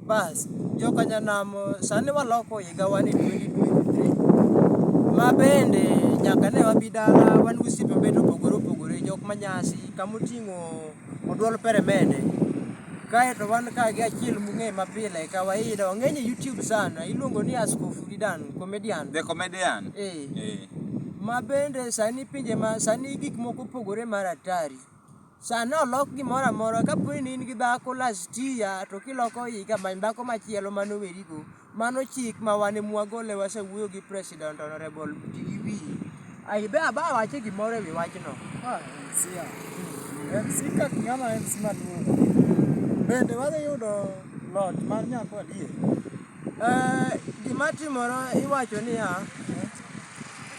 Bas, joka nyanamo sani waloko higawa ni 2023. Ma bende nyaka ne wabi dala wan gi osiepe mabende opogore opogore, jok ma nyasi, kama oting'o oduol peremende. Kaeto wan ka gi achiel mung'e ma pile kawaida, ong'eny e YouTube sana, iluongo ni Askofu Didan, comedian. The comedian. Eh. Eh. Ma bende sani pinje ma sani gik moko opogore mar atari. Sani olok gimoro amora ka po ni in gi dhako last year to kiloko higa many dhako machielo mane oweri go. Mano chik ma wan ema wagole wasewuoyo gi president honorable ti gi wiyi. Ayi be aba awache gimoro ewi wachno. Ma MC a. MC ka ng'ama MC maduong'. Bende wadhi yudo lot mar nyako adier? Eh, gima timore iwacho niya,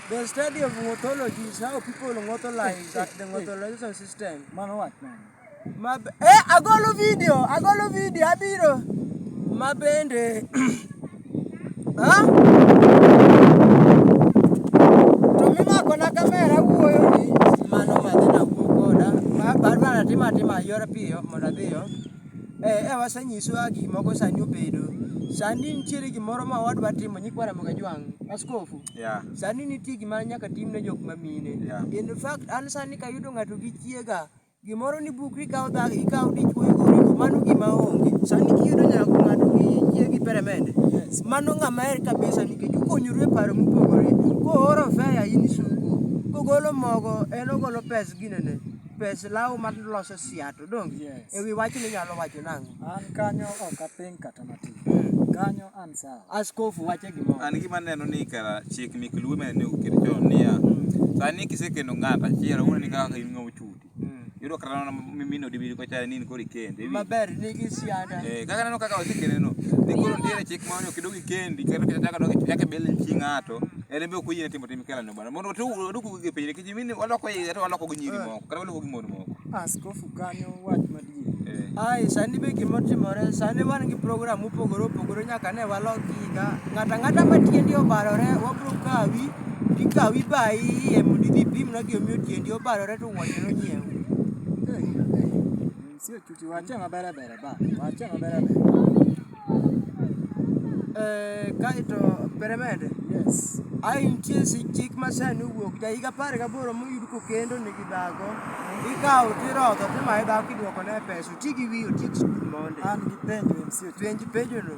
The study of ngothology is how people ngotholize at the ngotholication system. Mano wach mane? Ma eh agolo video, agolo video abiro. Ma bende Ha? To mimako na kamera wuoyo ni mano madhi na wuo koda. Ma barbara tima tima yora piyo mondo adhiyo. Eh, eh wasenyiso kaka gik moko sani obedo. Sani nitiere gimoro ma wadwa timo nyikwa Ramogi Ajwang', askofu. Yeah. Sani nitie gima nyaka tim ne jok ma mine. Yeah. In fact, an sani kayudo ng'ato gi chiega, gimoro ni bukri ikawo dhako, ikawo dichwo igorigo, mano gima onge. Sani kiyudo nyako ng'ato gi chiegi peremende, mano ng'ama her kabisa nikech ukonyoru e paro mopogore. Kooro fea in isuko, kogolo mogo en ogolo pes ginene, pes law maloso siato. to donge yes. e wi wachni inyalo wacho nang'o? An kanyo ok aping kata matin. Hmm. Kanyo an sawa. Askofu wache gimoro. An gima neno ni kara chik mek luo mene ne oket chon niya. Hmm. Sani kisekendo ng'ato achiel awuon ni kaka in ng'ama ochuti. Hmm. Yudo kata mana mimino dibiri ko chare ni in kori kende. Maber nigi siada. Eh kaka neno kaka wasekende no. Ni koro nitiere chik ma ok idogi kendi kendo kichaka dogi chake bel chi ng'ato. En be ok oyie timo tim kela Bwana mondo tu duku gi pile kiji mini waloko higa to waloko gi nyiri moko kata waloko gi mon moko. Askofu kanyo wach madier. Eh. Ai sani be gima timore sani wan gi program mopogore opogore nyaka ne walok higa ng'ata ng'ata ma tiendi obarore wabro kawi tikawi bayi iye mondo idhi ipimna gimomiyo tiendi obarore to wuon nyiew. Sio chuki, waachie maber ber ba. Waachie maber ber. Eh, kaito peremende. Yes. Ai nitie chik ma sani owuok ja higa apar gaboro moyud kokendo nigi dhako ikawo tirodho timaye dhako iduoko ne pesa oti gi wiyi oti gi skul mondi an gi penjo penj penjono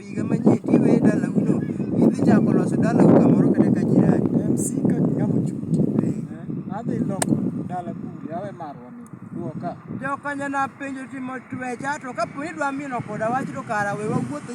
higa manyien to iweye e dalau no idhi chako loso dalau kamoro kata ka jirani. MC ka ng'ama ochuti. Eh, adhi loko dala kuli, awe marwa ni. Duo ka. Jokanyana penjo timo twecha to kapo ni idwa mino koda wach to kara we wawuoth e